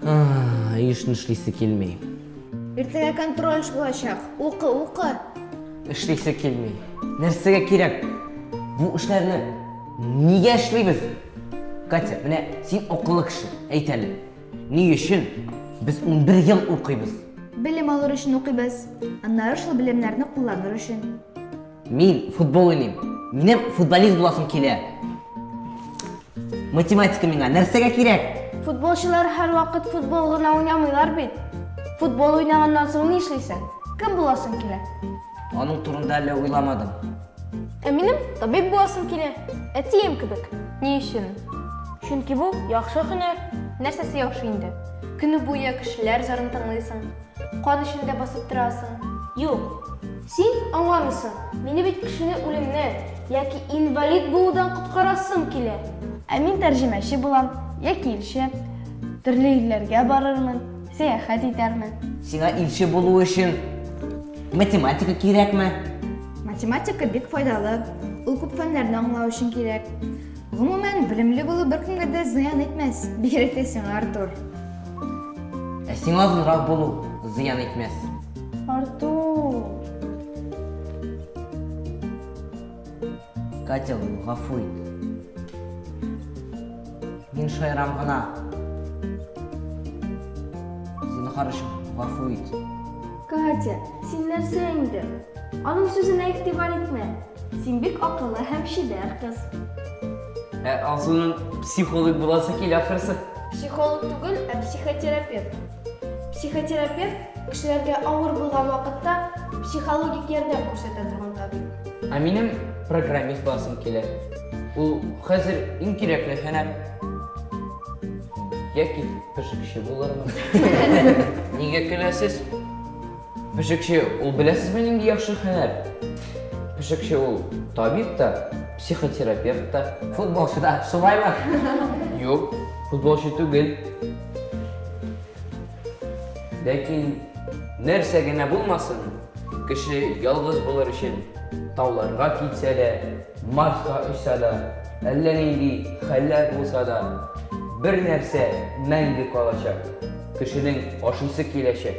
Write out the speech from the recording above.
Ай, ешны шлисе килмей. Иртәгә контроль булачак. Укы, укы. Эшлисе килмей. Нәрсәгә кирәк? Бу эшләрне нигә эшлибез? Катя, менә син акыллы кеше, әйт әле. Ни өчен без 11 ел укыйбыз? Белем алыр өчен укыйбыз. Аннары шул белемнәрне кулланыр өчен. Мин футбол уйныйм. Минем футболист буласым килә. Математика миңа нәрсәгә кирәк? Футболчылар һәрвакыт футбол гына уйнамыйлар бит. Футбол уйнаганнан соң ни эшлисең? Кем буласың килә? Аның турында әле уйламадым. Ә минем табиб буласым килә. Әтием кебек. Ни өчен? Чөнки бу яхшы һөнәр. Нәрсәсе яхшы инде? Көне буе кешеләр зарын тыңлыйсың, кан эчендә басып торасың. Юк, син аңламыйсың. Мине бит кешене үлемнән яки инвалид булудан коткарасым килә. Ә мин тәрҗемәче булам яки илче. Төрле илләргә барырмын. Сәяхәт итәрмен. Сиңа илче булу өчен математика кирәкме? Математика бик файдалы. Ул күп фәннәрне аңлау өчен кирәк. Гомумән, белемле булу беркемгә дә зыян итмәс, бигрәк тә сиңа, Артур. Ә сиңа озынрак булу зыян итмәс. Артур! Катя, гафу ит. Мин шаярам гына. Зинһар өчен гафу ит. Катя, син нәрсә инде? Аның сүзенә игътибар итмә. Син бик акыллы һәм чибәр кыз. Ә Алсуның психолог буласы килә ахрысы. Психолог түгел, ә психотерапевт. Психотерапевт, кешеләргә авыр булган вакытта психологик ярдәм күрсәтә торган табиб. Ә минем программист буласым килә. Ул хәзер иң кирәкле һөнәр. Яки пешекче булырмын. Нигә көләсез? Пешекче ул беләсезме нинди яхшы хәнәр? Пешекче ул табиб та, психотерапевт та. Футболчы да, шулаймы? Юк, футболчы түгел. Ләкин нәрсә генә булмасын, кеше ялгыз булыр өчен тауларга китсә дә, Марска очса да, әллә нинди хәлләр булса да, бер нәрсә мәңге калачак. Кешенең ашыйсы киләчәк.